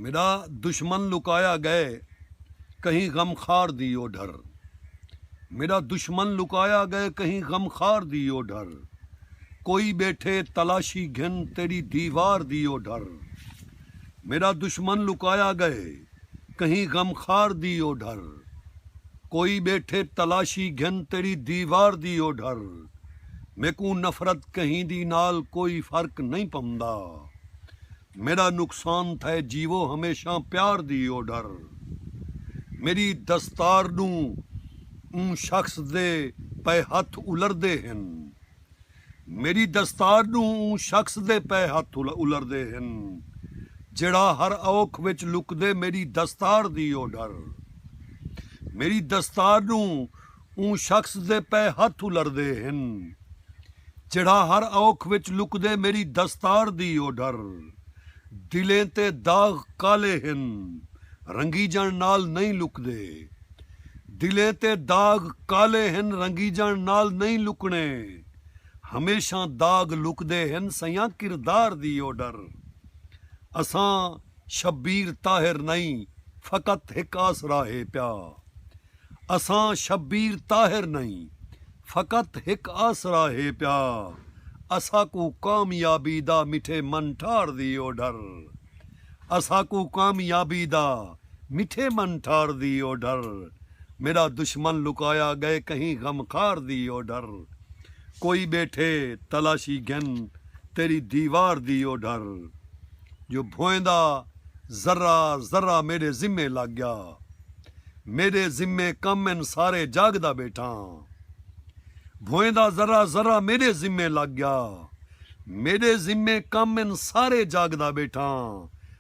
میݙا دشمن لکایا ڳئے کہیں غم خار دی او ڈھر میݙا دشمن لکایا ڳئے کہیں غم خار دی او ڈھر کوئی ٻیٹھے تلاشی گھن تیݙی دیوار دی او ڈھر میݙا دشمن لکایا ڳئے کہیں غم خار دی او ڈھر کوئی ٻیٹھے تلاشی گھن تیݙی دیوار دی او ڈھر میکوں نفرت کہیں دی نال کوئی فرق نئیں پوندا میݙا نقصان تھئے جیوو ہمیشاں پیار دی او ڈر میݙی دستار ݙوں اوں شخص دے پئے ہتھ الردے ہن میݙی دستار ݙوں اوں شخص دے پئے ہتھ الردے ہن جیڑھا ہر اوکھ وچ لکدے میݙی دستار دی او ڈر میݙی دستار ݙوں اوں شخص دے پئے ہتھ الردے ہن جیڑھا ہر اوکھ وچ لکدے میݙی دستار دی اوڈھر دلیں تے داغ کالے ہن رنگیجݨ نال نئیں لکدے دلیں تے داغ کالے ہن رنگیجݨ نال نئیں لکݨے ہمیشاں داغ لکدے ہن سئیاں کردار دی اوڈھر اساں شبیر طاہر نئیں فقط ہک آسرا ہے پیا اساں شبیر طاہر نئیں فقط ہک آسرا ہے پیا اساکوں کامیابی دا مٹھے من ٹھار دی اوڈھر اساکوں کامیابی دا مٹھے من ٹھار دی اوڈھر میڈا دشمن لکایا گئے کہیں غم خار دی اوڈھر کوئی بیٹھے تلاشی گھن تیڈی دیوار دی اوڈھر جو بھوئیں دا ذرہ ذرہ میڈے ذمے لگ گیا۔ میݙے ذمے کم ہن سارے جاڳدا ٻیٹھاں بھوئیں دا ذرہ ذرہ میݙے ذمے لڳ ڳیا میݙے ذمے کم ہن سارے جاڳدا ٻیٹھاں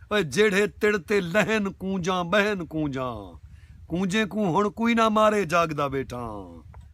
اوئے جیڑھے تڑ تے لہن کونجاں ٻہن کونجاں کونجیں کوں ہݨ کوئی نہ مارے جاڳدا ٻیٹھاں۔